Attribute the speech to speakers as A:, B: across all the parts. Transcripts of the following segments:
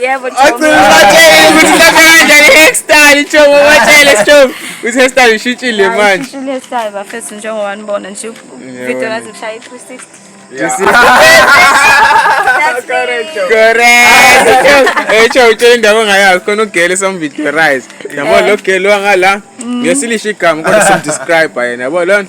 A: yebo hairstyle njengoba watshele strobe ukuthi hairstyle
B: ishintshile manje ishintshile hairstyle bafethu njengoba nibona
A: nje video
B: ngathi ngishaya i-360 echo utshela indawo ongayazi khona ugele samvideo rise yabo lo gele wangala mm. ngesilisha igama kodwa simdescribe yena yabo lona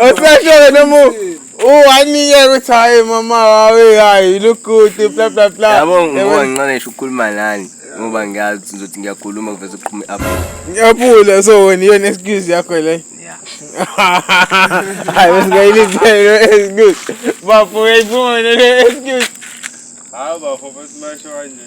B: Osashele noma uwanike ukuthi hayi mama wawe hayi lukude bla bla bla. Yabo ngoba ngincane ngisho
C: ukukhuluma nani ngoba ngiyazi ukuthi ngizothi ngiyakhuluma kuveze kuqhuma i-apple. Ngiyaphula so
B: wena iyona excuse yakho le. Hayi besingayilindele excuse. Bafo uyayiphuma le excuse. Hayi
C: bafo besimashwanye.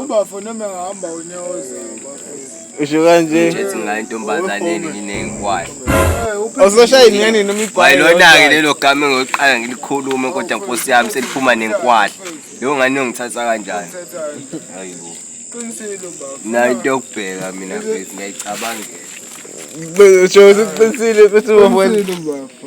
D: ubafo noma engahamba unyawo zawo bafo usho kanje Ngithi
B: nginayo intombazane
C: eningi nengikwakhe.
B: uzoshaya ingane noma Kwaye igwayi lona-ke lelo gama
C: engiyoqala ngilikhulume kodwa nkosi yami seliphuma nenkwahla. Leyo ngane yongithatha kanjani? Hayibo. qinisile
D: bafo Nayo into yokubheka
C: mina mfethu ngiyayicabangela.
B: usho usuqinisile ukuthi ubafo qinisile bafo